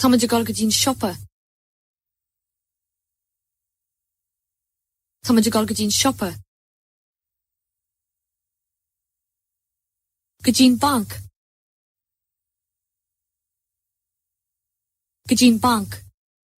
Táimid ag dul go dtí'n siopa. Táimid ag dul go dtí'n siopa. go dtí'n banc go dtí'n banc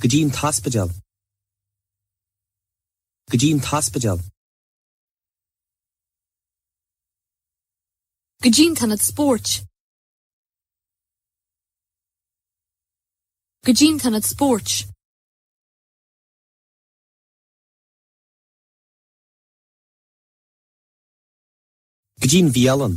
go dtí an t-ospidéal go dtí an t-ospidéal. go dtí an t-ionad spóirt go dtí an t-ionad spóirt. go dtí an bhialann.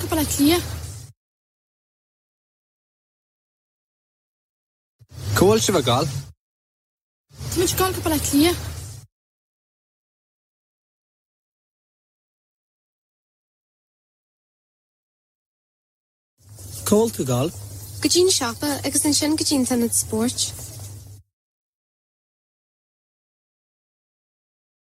Go Baile Átha Cliath. Cá bhfuil sibh ag dul? Tá muid ag dul go Baile Átha Cliath. Cá bhfuil tú ag dul? Go dtí an siopa agus ansin go dtí an t-ionad spóirt.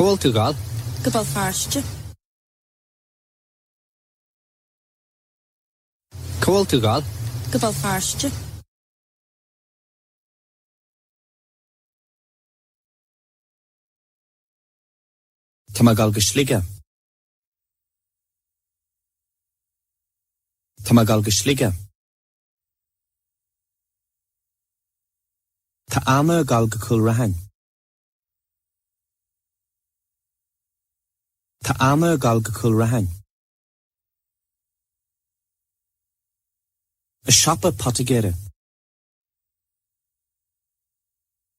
Cá bhfuil tú ag dul? Go Béal Feirste. Cá bhfuil tú ag dul? Go Béal Feirste. Tá mé ag dul go Sligeach. Tá mé ag dul go Sligeach. Tá Anna ag dul go Cúil Raithin. Tá Anna ag dul go Cúil Raithin. I siopa poitigéara.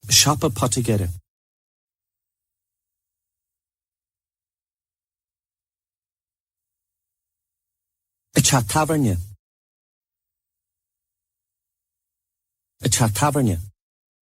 I siopa poitigéara. I dteach tábhairne. I dteach tábhairne.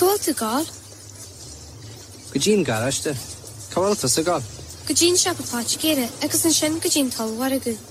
Cá bhfuil tú ag gabháil? Go dtí an garáiste. Cá bhfuil tusa ag gabháil? Go dtí an siopa poitigéara agus ansin go dtí an t-ollmhargadh.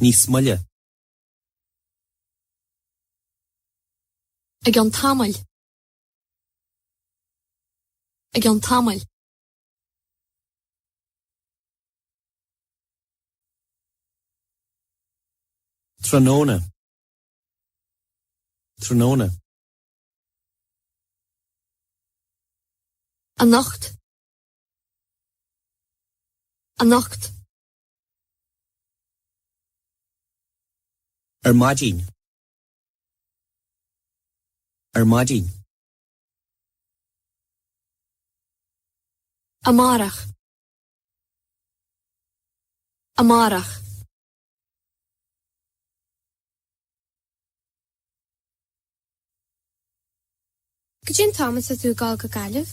níos moille. I gceann tamaill. I gceann tamaill. tráthnóna. tráthnóna. anocht. anocht. Ar maidin. Ar maidin. Amárach. Amárach. Goidé an t-am atá tú ag dul go Gaillimh?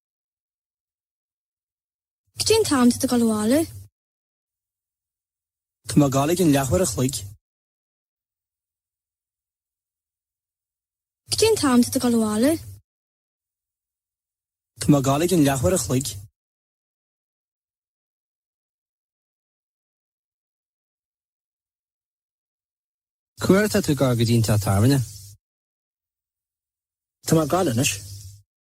Goidé an t-am atá tú ag dul abhaile? Tá mé ag dul ag an leathuair a chloig. Goidé an t-am atá tú ag dul abhaile? Tá mé ag dul ag an leathuair a chloig. Cá huair atá tú ag dul go dtí an teach tábhairne? Tá mé ag dul anois.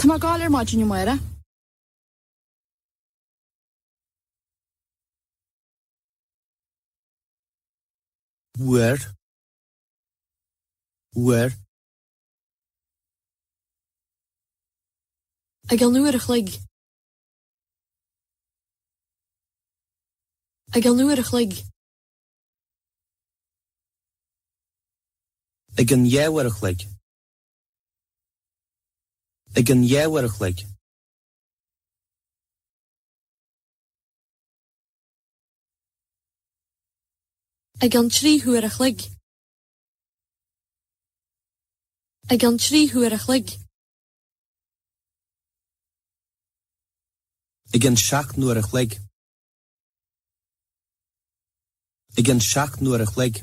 Tá mé ag goil ar maidin, a Mháire. uair uair. ag an uair a chloig. ag an uair a chloig. ag an dhá uair a chloig. Ag an dhá uair a chloig. Ag an trí huair a chloig. Ag an trí huair a chloig. Ag an seacht n-uair a chloig. Ag an seacht n-uair a chloig.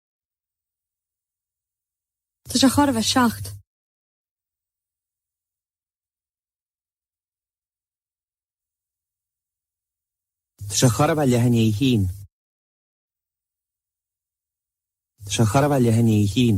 Tá sé chóir a bheith seacht. Tá sé chóir a bheith leath i ndiaidh a haon. Tá sé chóir a bheith leath i ndiaidh a haon.